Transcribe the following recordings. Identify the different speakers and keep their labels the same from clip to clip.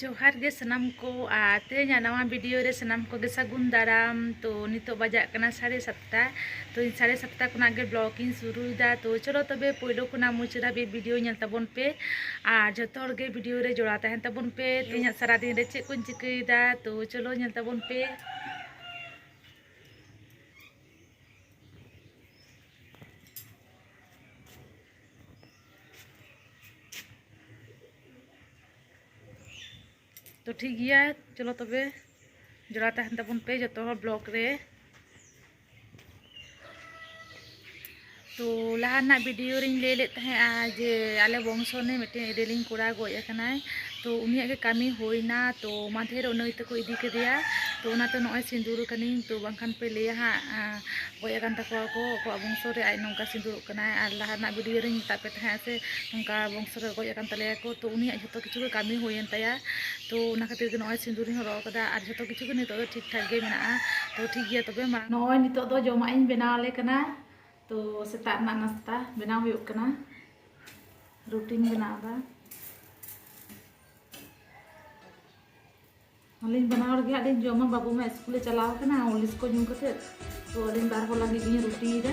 Speaker 1: ᱡᱚᱦᱟᱨ ᱜᱮ ᱥᱟᱱᱟᱢ ᱠᱚ ᱟᱨ ᱛᱮᱦᱮᱧᱟᱜ ᱱᱟᱣᱟ ᱵᱷᱤᱰᱤᱭᱳ ᱨᱮ ᱥᱟᱱᱟᱢ ᱠᱚᱜᱮ ᱥᱟᱹᱜᱩᱱ ᱫᱟᱨᱟᱢ ᱛᱚ ᱱᱤᱛᱚᱜ ᱵᱟᱡᱟᱜ ᱠᱟᱱᱟ ᱥᱟᱲᱮ ᱥᱟᱛᱴᱟ ᱛᱚ ᱤᱧ ᱥᱟᱲᱮ ᱥᱟᱛᱴᱟ ᱠᱷᱚᱱᱟᱜ ᱜᱮ ᱵᱞᱚᱜ ᱤᱧ ᱥᱩᱨᱩᱭᱮᱫᱟ ᱛᱚ ᱪᱚᱞᱚ ᱛᱚᱵᱮ ᱯᱳᱭᱞᱳ ᱠᱷᱚᱱᱟᱜ ᱢᱩᱪᱟᱹᱫ ᱫᱷᱟᱹᱵᱤᱡ ᱵᱷᱤᱰᱤᱭᱳ ᱧᱮᱞ ᱛᱟᱵᱚᱱ ᱯᱮ ᱟᱨ ᱡᱷᱚᱛᱚ ᱦᱚᱲ ᱜᱮ ᱵᱷᱤᱰᱤᱭᱳ ᱨᱮ ᱡᱚᱲᱟᱣ ᱛᱟᱦᱮᱱ ᱛᱟᱵᱚᱱ ᱯᱮ ᱛᱮᱦᱮᱧᱟᱜ ᱥᱟᱨᱟᱫᱤᱱ ᱨᱮ ᱪᱮᱫ ᱠᱚᱧ ᱪᱤᱠᱟᱹᱭᱮᱫᱟ ᱛᱚ ᱪᱚᱞᱚ ᱧᱮᱞ ᱛᱟᱵᱚᱱ ᱯᱮ ᱛᱚ ᱴᱷᱤᱠ ᱜᱮᱭᱟ ᱪᱚᱞᱚ ᱛᱚᱵᱮ ᱡᱚᱲᱟ ᱛᱟᱦᱮᱱ ᱛᱟᱵᱚᱱ ᱯᱮ ᱡᱚᱛᱚ ᱦᱚᱲ ᱵᱞᱚᱜ ᱨᱮ ᱛᱚ ᱞᱟᱦᱟ ᱨᱮᱱᱟᱜ ᱵᱷᱤᱰᱤᱭᱳ ᱨᱤᱧ ᱞᱟᱹᱭ ᱞᱮᱫ ᱛᱟᱦᱮᱸᱜᱼᱟ ᱡᱮ ᱟᱞᱮ ᱵᱚᱝᱥᱚ ᱨᱤᱱᱤᱡ ᱢᱤᱫᱴᱮᱱ ᱤᱨᱤᱞᱤᱧ ᱠᱚᱲᱟ ᱜᱚᱡ ᱟᱠᱟᱱᱟᱭ ᱛᱚ ᱩᱱᱤᱭᱟᱜ ᱜᱮ ᱠᱟᱹᱢᱤ ᱦᱩᱭᱱᱟ ᱛᱚ ᱢᱟᱫᱷᱮᱨ ᱩᱱᱤ ᱛᱮᱠᱚ ᱤᱫᱤ ᱠᱮᱫᱮᱭᱟ ᱛᱚ ᱚᱱᱟᱛᱮ ᱱᱚᱜᱼᱚᱭ ᱥᱤᱸᱫᱩᱨ ᱟᱠᱟᱱᱟᱹᱧ ᱛᱚ ᱵᱟᱝᱠᱷᱟᱱ ᱯᱮ ᱞᱟᱹᱭᱟ ᱦᱟᱸᱜ ᱜᱚᱡ ᱟᱠᱟᱱ ᱛᱟᱠᱚᱣᱟ ᱠᱚ ᱟᱠᱚᱣᱟᱜ ᱵᱚᱝᱥᱚ ᱨᱮ ᱟᱡ ᱱᱚᱝᱠᱟ ᱥᱤᱸᱫᱩᱨᱚᱜ ᱠᱟᱱᱟᱭ ᱟᱨ ᱞᱟᱦᱟ ᱨᱮᱱᱟᱜ ᱵᱷᱤᱰᱤᱭᱳ ᱨᱤᱧ ᱢᱮᱛᱟᱫ ᱯᱮ ᱛᱟᱦᱮᱸᱜᱼᱟ ᱥᱮ ᱱᱚᱝᱠᱟ ᱵᱚᱝᱥᱚ ᱨᱮ ᱜᱚᱡ ᱟᱠᱟᱱ ᱛᱟᱞᱮᱭᱟ ᱠᱚ ᱛᱚ ᱩᱱᱤᱭᱟᱜ ᱡᱷᱚᱛᱚ ᱠᱤᱪᱷᱩ ᱜᱮ ᱠᱟᱹᱢᱤ ᱦᱩᱭᱮᱱ ᱛᱟᱭᱟ ᱛᱚ ᱚᱱᱟ ᱠᱷᱟᱹᱛᱤᱨ ᱜᱮ ᱱᱚᱜᱼᱚᱭ ᱥᱤᱸᱫᱩᱨ ᱤᱧ ᱦᱚᱨᱚᱜ ᱟᱠᱟᱫᱟ ᱟᱨ ᱡᱷᱚᱛᱚ ᱠᱤᱪᱷᱩ ᱜᱮ ᱱᱤᱛᱚᱜ ᱫᱚ ᱴᱷᱤᱠ ᱴᱷᱟᱠ ᱜᱮ ᱢᱮᱱᱟᱜᱼᱟ ᱛᱚ ᱴᱷᱤᱠ ᱜᱮᱭᱟ ᱛᱚᱵᱮ ᱢᱟ ᱱᱚᱜᱼᱚᱭ ᱱᱤᱛᱚᱜ ᱫᱚ ᱡᱚᱢᱟᱜ ᱤᱧ ᱵᱮᱱᱟᱣ ᱟᱞᱮ ᱠᱟᱱᱟ ᱛᱚ ᱥᱮᱛᱟᱜ ᱨᱮᱱᱟᱜ ᱱᱟᱥᱛᱟ ᱵᱮᱱᱟᱣ ᱦᱩᱭᱩᱜ ᱠᱟᱱᱟ ᱨᱩᱴᱤᱧ ᱵᱮᱱᱟᱣ ᱮᱫᱟ ᱟᱹᱞᱤᱧ ᱵᱟᱱᱟ ᱦᱚᱲ ᱜᱮ ᱦᱟᱸᱜ ᱞᱤᱧ ᱡᱚᱢᱟ ᱵᱟᱹᱵᱩ ᱢᱟ ᱥᱠᱩᱞᱮ ᱪᱟᱞᱟᱣ ᱠᱟᱱᱟ ᱦᱚᱨᱞᱤᱥ ᱠᱚ ᱧᱩ ᱠᱟᱛᱮ ᱛᱚ ᱟᱹᱞᱤᱧ ᱵᱟᱨ ᱦᱚᱲ ᱞᱟᱹᱜᱤᱫ ᱞᱤᱧ ᱨᱩᱴᱤᱭᱮᱫᱟ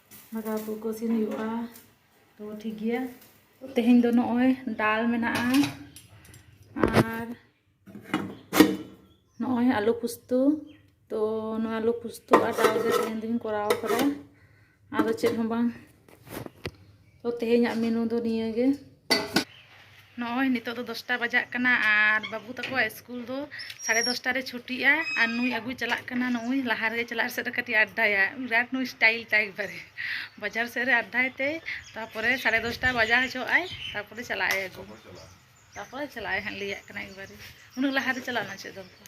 Speaker 1: ᱫᱟᱠᱟ ᱩᱛᱩ ᱠᱚ ᱤᱥᱤᱱ ᱦᱩᱭᱩᱜᱼᱟ ᱛᱚ ᱴᱷᱤᱠ ᱜᱮᱭᱟ ᱛᱮᱦᱮᱧ ᱫᱚ ᱱᱚᱜᱼᱚᱭ ᱰᱟᱞ ᱢᱮᱱᱟᱜᱼᱟ ᱟᱨ ᱱᱚᱜᱼᱚᱭ ᱟᱞᱩ ᱯᱩᱥᱛᱩ ᱛᱚ ᱱᱚᱣᱟ ᱟᱞᱩ ᱯᱩᱥᱛᱩ ᱟᱨ ᱰᱟᱞ ᱜᱮ ᱛᱮᱦᱮᱧ ᱫᱚᱧ ᱠᱚᱨᱟᱣ ᱠᱟᱫᱟ ᱟᱫᱚ ᱪᱮᱫ ᱦᱚᱸ ᱵᱟᱝ ᱛᱚ ᱛᱮᱦᱮᱧᱟᱜ ᱢᱮᱱᱩ ᱫᱚ ᱱᱤᱭᱟᱹ ᱜᱮ ᱱᱚᱜᱼᱚᱭ ᱱᱤᱛᱚᱜ ᱫᱚ ᱫᱚᱥᱴᱟ ᱵᱟᱡᱟᱜ ᱠᱟᱱᱟ ᱟᱨ ᱵᱟᱹᱵᱩ ᱛᱟᱠᱚᱣᱟᱜ ᱥᱠᱩᱞ ᱫᱚ ᱥᱟᱲᱮ ᱫᱚᱥᱴᱟ ᱨᱮ ᱪᱷᱩᱴᱤᱜᱼᱟ ᱟᱨ ᱱᱩᱭ ᱟᱹᱜᱩᱭ ᱪᱟᱞᱟᱜ ᱠᱟᱱᱟ ᱱᱩᱭ ᱞᱟᱦᱟ ᱨᱮᱜᱮ ᱪᱟᱞᱟᱜ ᱥᱮᱫ ᱨᱮ ᱠᱟᱹᱴᱤᱡ ᱟᱰᱰᱟᱭᱟ ᱵᱤᱨᱟᱴ ᱱᱩᱭ ᱥᱴᱟᱭᱤᱞ ᱴᱟᱭᱤᱯ ᱵᱟᱨᱮ ᱵᱟᱡᱟᱨ ᱥᱮᱫ ᱨᱮ ᱟᱰᱰᱟᱭ ᱛᱮ ᱛᱟᱨᱯᱚᱨᱮ ᱥᱟᱲᱮ ᱫᱚᱥᱴᱟ ᱵᱟᱡᱟᱣ ᱦᱚᱪᱚᱜ ᱟᱭ ᱛᱟᱨᱯᱚᱨᱮ ᱪᱟᱞᱟᱜ ᱟᱭ ᱟᱹᱜᱩ ᱛᱟᱨᱯᱚᱨᱮ ᱪᱟᱞᱟᱜ ᱟᱭ ᱦᱟᱸᱜ ᱞᱟᱹᱭᱟᱜ ᱠᱟᱱᱟ ᱮᱠᱵᱟᱨᱮ ᱩᱱᱟᱹᱜ ᱞᱟᱦᱟᱨᱮ ᱪᱟᱞᱟᱜ ᱨᱮᱱᱟᱜ ᱪᱮᱫ ᱫᱚᱨᱠᱟᱨ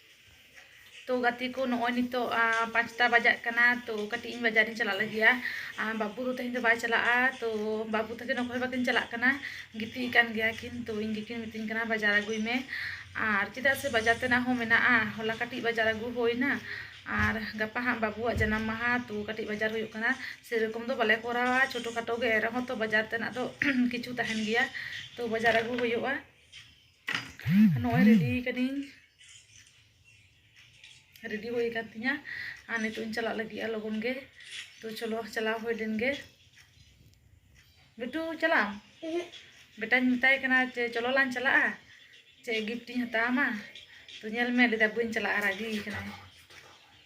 Speaker 1: ᱛᱚ ᱜᱟᱛᱮ ᱠᱚ ᱱᱚᱜᱼᱚᱭ ᱱᱤᱛᱚᱜ ᱯᱟᱸᱪᱴᱟ ᱵᱟᱡᱟᱜ ᱠᱟᱱᱟ ᱛᱚ ᱠᱟᱹᱴᱤᱡ ᱤᱧ ᱵᱟᱡᱟᱨᱤᱧ ᱪᱟᱞᱟᱜ ᱞᱟᱹᱜᱤᱫᱼᱟ ᱵᱟᱹᱵᱩ ᱫᱚ ᱛᱮᱦᱮᱧ ᱫᱚ ᱵᱟᱭ ᱪᱟᱞᱟᱜᱼᱟ ᱛᱚ ᱵᱟᱹᱵᱩ ᱛᱟᱹᱠᱤᱱ ᱚᱠᱚᱭ ᱦᱚᱸ ᱵᱟᱹᱠᱤᱱ ᱪᱟᱞᱟᱜ ᱠᱟᱱᱟ ᱜᱤᱛᱤᱡ ᱟᱠᱟᱱ ᱜᱮᱭᱟ ᱠᱤᱱ ᱛᱚ ᱤᱧ ᱜᱮᱠᱤᱱ ᱢᱤᱛᱟᱹᱧ ᱠᱟᱱᱟ ᱵᱟᱡᱟᱨ ᱟᱹᱜᱩᱭ ᱢᱮ ᱟᱨ ᱪᱮᱫᱟᱜ ᱥᱮ ᱵᱟᱡᱟᱨ ᱛᱮᱱᱟᱜ ᱦᱚᱸ ᱢᱮᱱᱟᱜᱼᱟ ᱦᱚᱞᱟ ᱠᱟᱹᱴᱤᱡ ᱵᱟᱡᱟᱨ ᱟᱹᱜᱩ ᱦᱩᱭᱱᱟ ᱟᱨ ᱜᱟᱯᱟ ᱦᱟᱸᱜ ᱵᱟᱹᱵᱩᱣᱟᱜ ᱡᱟᱱᱟᱢ ᱢᱟᱦᱟ ᱛᱚ ᱠᱟᱹᱴᱤᱡ ᱵᱟᱡᱟᱨ ᱦᱩᱭᱩᱜ ᱠᱟᱱᱟ ᱥᱮᱨᱚᱠᱚᱢ ᱫᱚ ᱵᱟᱞᱮ ᱠᱚᱨᱟᱣᱟ ᱪᱷᱳᱴᱳ ᱠᱷᱟᱴᱳ ᱜᱮ ᱮᱱ ᱨᱮᱦᱚᱸ ᱛᱚ ᱵᱟᱡᱟᱨ ᱛᱮᱱᱟᱜ ᱫᱚ ᱠᱤᱪᱷᱩ ᱛᱟᱦᱮᱱ ᱜᱮᱭᱟ ᱛᱚ ᱵᱟᱡᱟᱨ ᱟᱹᱜᱩ ᱦᱩᱭᱩᱜᱼᱟ ᱱᱚᱜᱼᱚᱭ ᱨᱮᱰᱤ ᱠᱟᱹᱱᱟᱹᱧ ᱨᱮᱰᱤ ᱦᱩᱭ ᱟᱠᱟᱱ ᱛᱤᱧᱟ ᱟᱨ ᱱᱤᱛᱚᱜ ᱤᱧ ᱪᱟᱞᱟᱜ ᱞᱟᱹᱜᱤᱫᱼᱟ ᱞᱚᱜᱚᱱ ᱜᱮ ᱛᱚ ᱪᱚᱞᱚ ᱪᱟᱞᱟᱣ ᱦᱩᱭ ᱞᱮᱱ ᱜᱮ ᱵᱤᱴᱩ ᱪᱟᱞᱟᱜ ᱟᱢ ᱵᱮᱴᱟᱧ ᱢᱮᱛᱟᱭ ᱠᱟᱱᱟ ᱡᱮ ᱪᱚᱞᱚ ᱞᱟᱝ ᱪᱟᱞᱟᱜᱼᱟ ᱪᱮᱫ ᱜᱤᱯᱷᱴᱤᱧ ᱦᱟᱛᱟᱣ ᱟᱢᱟ ᱛᱚ ᱧᱮᱞ ᱢᱮ ᱞᱟᱹᱭᱫᱟ ᱵᱟᱹᱧ ᱪᱟᱞᱟᱜᱼᱟ ᱨᱟᱹᱜᱤ ᱠᱟᱱᱟᱭ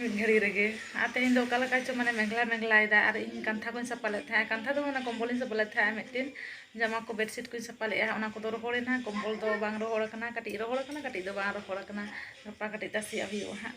Speaker 1: ᱢᱤᱫ ᱜᱷᱟᱹᱲᱤ ᱨᱮᱜᱮ ᱟᱨ ᱛᱮᱦᱮᱧ ᱫᱚ ᱚᱠᱟ ᱞᱮᱠᱟ ᱪᱚ ᱢᱟᱱᱮ ᱢᱮᱜᱷᱞᱟ ᱢᱮᱜᱷᱞᱟᱭᱮᱫᱟ ᱟᱨ ᱤᱧ ᱠᱟᱱᱛᱷᱟ ᱠᱚᱧ ᱥᱟᱯᱟ ᱞᱮᱫ ᱛᱟᱦᱮᱸᱫ ᱠᱟᱱᱛᱷᱟ ᱫᱚ ᱚᱱᱟ ᱠᱚᱢᱵᱚᱞᱤᱧ ᱥᱟᱯᱟ ᱞᱮᱫ ᱛᱟᱦᱮᱸᱫ ᱢᱤᱫᱴᱮᱱ ᱡᱟᱢᱟ ᱠᱚ ᱵᱮᱰᱥᱤᱴ ᱠᱚᱧ ᱥᱟᱯᱟ ᱞᱮᱫᱼᱟ ᱚᱱᱟ ᱠᱚᱫᱚ ᱨᱚᱦᱚᱲᱮᱱᱟ ᱠᱚᱢᱵᱚᱞ ᱫᱚ ᱵᱟᱝ ᱨᱚᱦᱚᱲ ᱟᱠᱟᱱᱟ ᱠᱟᱹᱴᱤᱡ ᱨᱚᱦᱚᱲ ᱟᱠᱟᱱᱟ ᱠᱟᱹᱴᱤᱡ ᱫᱚ ᱵᱟᱝ ᱨᱚᱦᱚᱲ ᱟᱠᱟᱱᱟ ᱜᱟᱯᱟ ᱠᱟᱹᱴᱤᱡ ᱛᱟᱥᱮᱭᱟᱜ ᱦᱩᱭᱩᱜᱼᱟ ᱦᱟᱸᱜ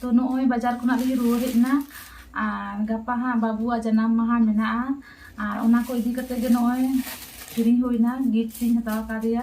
Speaker 1: ᱛᱚ ᱱᱚᱜᱼᱚᱭ ᱵᱟᱡᱟᱨ ᱠᱷᱚᱱᱟᱜ ᱞᱤᱧ ᱨᱩᱣᱟᱹᱲ ᱦᱮᱡ ᱮᱱᱟ ᱟᱨ ᱜᱟᱯᱟ ᱦᱟᱸᱜ ᱵᱟᱹᱵᱩᱣᱟᱜ ᱡᱟᱱᱟᱢ ᱢᱟᱦᱟ ᱢᱮᱱᱟᱜᱼᱟ ᱟᱨ ᱚᱱᱟ ᱠᱚ ᱤᱫᱤ ᱠᱟᱛᱮᱫ ᱜᱮ ᱱᱚᱜᱼᱚᱭ ᱠᱤᱨᱤᱧ ᱦᱩᱭᱱᱟ ᱜᱤᱯᱷᱴ ᱤᱧ ᱦᱟᱛᱟᱣ ᱠᱟᱣᱫᱮᱭᱟ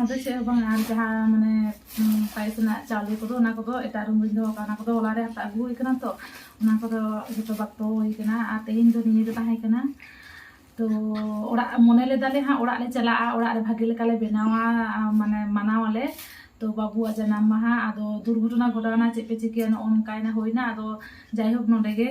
Speaker 1: ᱟᱫᱚ ᱪᱮᱫ ᱦᱚᱸ ᱵᱟᱝ ᱟᱨ ᱡᱟᱦᱟᱸ ᱢᱟᱱᱮ ᱯᱟᱭᱮᱥ ᱨᱮᱱᱟᱜ ᱪᱟᱣᱞᱮ ᱠᱚᱫᱚ ᱚᱱᱟ ᱠᱚᱫᱚ ᱮᱴᱟᱜ ᱨᱩᱢ ᱨᱮᱧ ᱫᱚᱦᱚ ᱠᱟᱜᱼᱟ ᱚᱱᱟ ᱠᱚᱫᱚ ᱦᱚᱞᱟ ᱨᱮ ᱦᱟᱛᱟᱣ ᱟᱹᱜᱩ ᱦᱩᱭ ᱠᱟᱱᱟ ᱛᱚ ᱚᱱᱟ ᱠᱚᱫᱚ ᱡᱚᱛᱚ ᱵᱟᱠᱛᱚ ᱦᱩᱭ ᱠᱟᱱᱟ ᱟᱨ ᱛᱮᱦᱮᱧ ᱫᱚ ᱱᱤᱭᱟᱹ ᱫᱚ ᱛᱟᱦᱮᱸ ᱠᱟᱱᱟ ᱛᱚ ᱚᱲᱟᱜ ᱢᱚᱱᱮ ᱞᱮᱫᱟᱞᱮ ᱦᱟᱸᱜ ᱚᱲᱟᱜ ᱞᱮ ᱪᱟᱞᱟᱜᱼᱟ ᱚᱲᱟᱜ ᱨᱮ ᱵᱷᱟᱜᱮ ᱞᱮᱠᱟᱞᱮ ᱵᱮᱱᱟᱣᱟ ᱢᱟᱱᱮ ᱢᱟᱱᱟᱣᱟᱞᱮ ᱛᱚ ᱵᱟᱹᱵᱩᱣᱟᱜ ᱡᱟᱱᱟᱢ ᱢᱟᱦᱟ ᱟᱫᱚ ᱫᱩᱨᱜᱷᱚᱴᱚᱱᱟ ᱜᱷᱚᱴᱟᱣᱱᱟ ᱪᱮᱫ ᱯᱮ ᱪᱤᱠᱟᱹᱭᱟ ᱱᱚᱜᱼᱚ ᱱᱚᱝᱠᱟᱭᱱᱟ ᱦᱩᱭᱱᱟ ᱟᱫᱚ ᱡᱟᱭᱦᱳᱠ ᱱᱚᱸᱰᱮ ᱜᱮ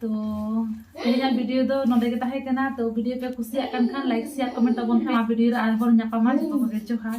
Speaker 1: ᱛᱚ ᱛᱮᱦᱮᱧᱟᱜ ᱵᱷᱤᱰᱤᱭᱳ ᱫᱚ ᱱᱚᱰᱮ ᱜᱮ ᱛᱟᱦᱮᱸ ᱠᱟᱱᱟ ᱛᱚ ᱵᱷᱤᱰᱤᱭᱳ ᱯᱮ ᱠᱩᱥᱤᱭᱟᱜ ᱠᱟᱱ ᱠᱷᱟᱱ ᱞᱟᱭᱤᱠ ᱥᱮᱭᱟᱨ ᱠᱚᱢᱮᱱᱴ ᱛᱟᱵᱚᱱ ᱯᱮ ᱱᱚᱣᱟ ᱵᱷᱤᱰᱤᱭᱳ ᱨᱮ ᱟᱨᱵᱚᱱ ᱧᱟᱯᱟᱢᱟ ᱡᱚᱛᱚ ᱠᱚᱜᱮ ᱡᱚᱦᱟᱨ